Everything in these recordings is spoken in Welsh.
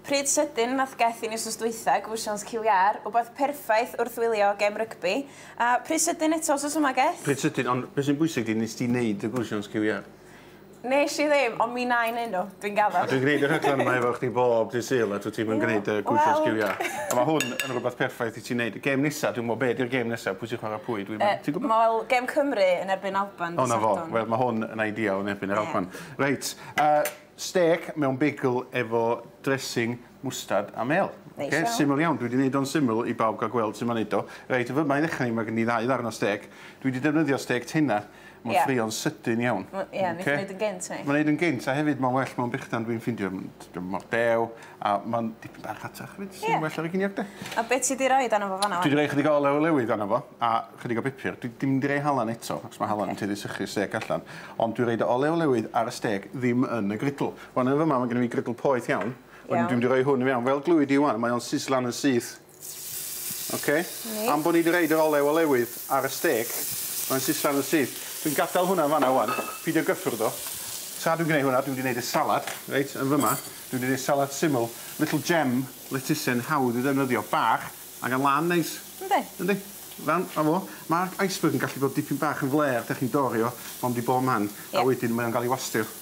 Pryd sydyn nath geth i ni wsnos dwytha, gwsions ciw iâr, wbath perffaith wrth wylio gem rygbi, a pryd sydyn eto wsos yma geth. Pryd sydyn, ond be sy'n bwysig di, nes di neud y gwsions ciw iâr? Nes i ddim, ond mi na i neud nhw, dwi'n gaddo. A dwi'n gneud y rhaglen yma efo chdi bob dydd Sul a dwyt ti'm yn gneud y gwsions ciw iâr. A ma hwn yn rwbath perffaith i ti neud. Gem nesa, dwi'm yn gwbo be di'r gem nesa, pwy sy'n chwara pwy, dwi'm yn, ti'n gwbo? Wel, gem Cymru yn erbyn Alban dydd Sadwrn. O 'na fo, wel ma hwn yn ideal yn erbyn yr Alban. Reit, yy. Stêc mewn bagel efo dressing mwstard a mêl. Neis iawn. Oce, syml iawn. Dwi 'di neud o'n syml i bawb ga'l gweld su' ma'n neud o. Reit, fy' 'ma i ddechra ni ma' gen ni ddau ddarn o stêc. Dwi 'di defnyddio stêc tenna. Ie. Ma'n ffrio'n sydyn iawn. Ma', ie, neith o neud yn gynt, neu? Ma'n neud yn gynt a hefyd ma'n well mewn brechdan dwi'n ffindio. Ma'n, t'o' mor dew. A ma'n dipyn bach rhatach fyd sy'n well ar y giniog de. A be ti 'di roid arno fo fan 'na wan? Dwi 'di roi chydig o olew olewydd arno fo a chydig o bupur. Dwi dim 'di roi halan eto achos ma' halan yn tueddu sychu stêc allan ond dwi roid olew olewydd ar y stêc ddim yn y grydl. Wan yn fy' 'ma ma' gynno fi grydl poeth iawn wedyn dwi'm 'di roi hwn i fewn fel glwy di ŵan mae o'n sisllan yn syth. Oce. Reit. Am bo' ni 'di roid yr olew olewydd ar y stêc, mae'n sisal yn syth. Dwi'n gadal hwnna yn fan 'na ŵan, pidio gyffwrdd o. Tra dwi'n gneud hwnna, dwi mynd i neud y salad, reit, yn fyma. Dwi mynd i neud salad syml, little gem, lettuce'n hawdd i'w ddefnyddio, bach, a gan lân neis. Yndi. Yndi. Ran, 'na fo. Ma'r iceberg yn gallu bod dipyn bach yn flêr, 'dach chi'n dorri o, mond i bo man. Ie. A wedyn mae o'n ga'l 'i wastio.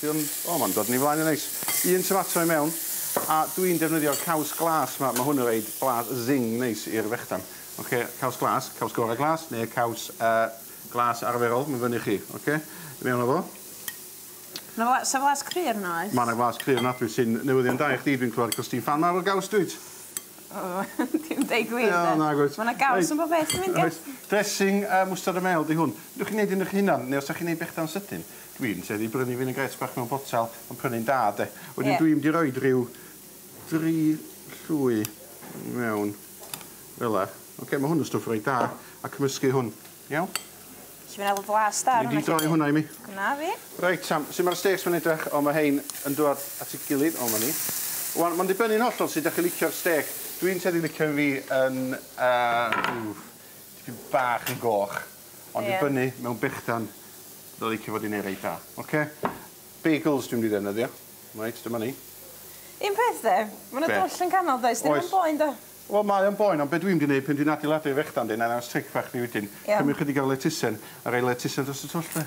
Dwi yn, o ma'n dod yn ei flaen yn neis. Un tomato i mewn a dwi yn defnyddio'r caws glas ma, ma hwn yn roid blas zing neis i'r fechdan. Ok, caws glas, caws gora glas neu caws yy glas arferol, ma'n fyny i chi. Ok, i mewn a fo. Ma fla- sa flas cry arno oes? Ma na flas cry ofnadwy sy'n newyddion da i chdi dwi'n clywed cos ti'n ffan mawr o gaws dwyt? Ww ti'm deud gwir 'de? Wel nag wyt. Ma na gaws yn bob peth dwi'n mynd i gau. Reit, dressing yy mwstard a mêl 'di hwn. Newch chi neud un 'ych hunan neu os 'dach chi'n neud bechdan sydyn Dwi'n tueddu i brynu vinaigrette bach mewn botel ond prynu'n da 'de. Wedyn... Ie. ...dwi mynd i roid ryw dri llwy mewn fel 'a. Oce ma' hwn yn stwff reit da a cymysgu hwn. Iawn? Felly ma' 'na l- flas da arno fo 'lly. Dwi 'di droi hwnna i mi. Gwnna fi. Reit 'ta, su' ma'r stêcs 'ma'n edrach? O ma' rhein yn dwad at 'i gilydd, o 'ma ni. Ŵan ma'n dibynnu'n hollol sud 'dach chi licio'r stêc. Dwi'n tueddu licio un fi yn yy ww, tipyn bach yn goch. Ond i brynu mewn brechdan fydda licio fod 'di neud reit da. Oce? Bagels dwi mynd i ddefnyddio. Reit dyma ni. Un peth 'de. Ma' 'na dwll yn canol does? Oes. 'Di o'm yn boen 'da? Wel mae o'n boen ond be' dwi mynd i neud pan dwi'n adeiladu y frechdan de 'nai ddangos tric bach i chi wedyn. Iawn. Cymryd chydig o'r lettuce a roi lettuce dros y twll de.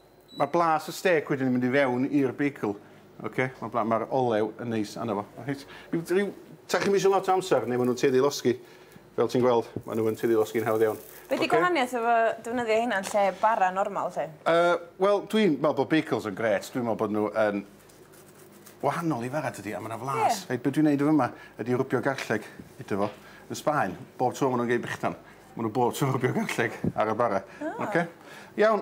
Mae blas y stêc wedyn yn mynd i fewn i'r beicl. Oce? Mae'r bla- mae'r olew yn neis arno fo. Reit. Ryw ryw ta chi'm isio lot o amser neu ma' nhw'n tueddu i losgi. Fel ti'n gweld, ma' nhw yn tueddu i losgi'n hawdd iawn. Be' 'di gwahaniaeth efo defnyddio heina yn lle bara normal 'lly? Yy, wel, dwi'n me'wl bo' beicls yn grêt. Dwi'n me'wl bod nhw yn wahanol i fara tydi? A ma' 'na flas. Ie. Reit, be' dwi'n neud yn fy' 'ma ydi rwbio garlleg iddo fo. Yn Sbaen, bob tro ma' nhw'n gei brechdan, ma' nhw bob tro yn rwbio garlleg ar y bara. O! Oce? Iawn.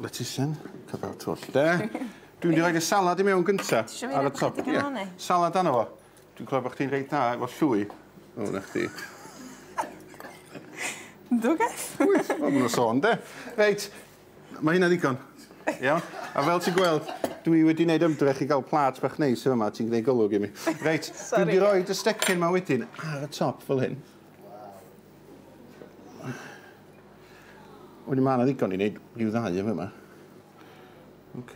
Lettucen, cyfan y twll 'de. Dwi'n mynd i roid y salad i mewn gynta. Ti isio fi roid chydig yn ôl 'ny? Salad arno fo. Dwi'n clywed bo' chdi'n reit dda efo llwy. O 'na chdi. Yndw gosh. Wyt? Wel ma' 'na sôn 'de? Reit. Ma' hynna ddigon. Iawn? A fel ti'n gweld dwi wedi neud ymdrech i ga'l plât bach neis yn fy' 'ma ti'n gneu' golwg i mi. Reit. Sori. Dwi mynd i roid y stecyn 'ma wedyn ar y top fel hyn. Wedyn mae yna ddigon i wneud rhyw ddau yn yma. OK.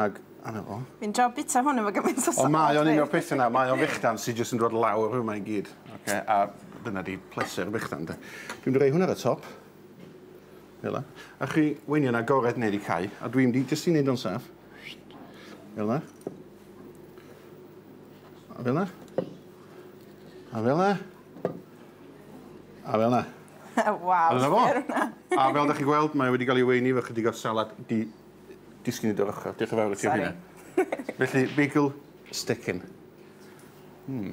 Ag anna fo. Fi'n trio bita hwn efo gymaint o salt. Ond mae o'n un o'r pethau yna, mae o'n fechdan sydd jyst yn dod lawr yma i gyd. OK, a dyna di pleser fechdan de. Dwi'n rhoi hwn ar y top. Fel yna. A chi weini yn agored neu wedi cau, a dwi'n di jyst i wneud o'n saff. Fel yna. A fel yna. A fel 'na. A fel 'na. Waw, sbïa ar wnna. A fel 'dach chi'n gweld mae wedi ga'l 'i weini efo chydig o salad di- disgyn i dy ochr. Dioch yn fawr i ti am hynna. Sori. Felly, bagel stickin'. Hmm.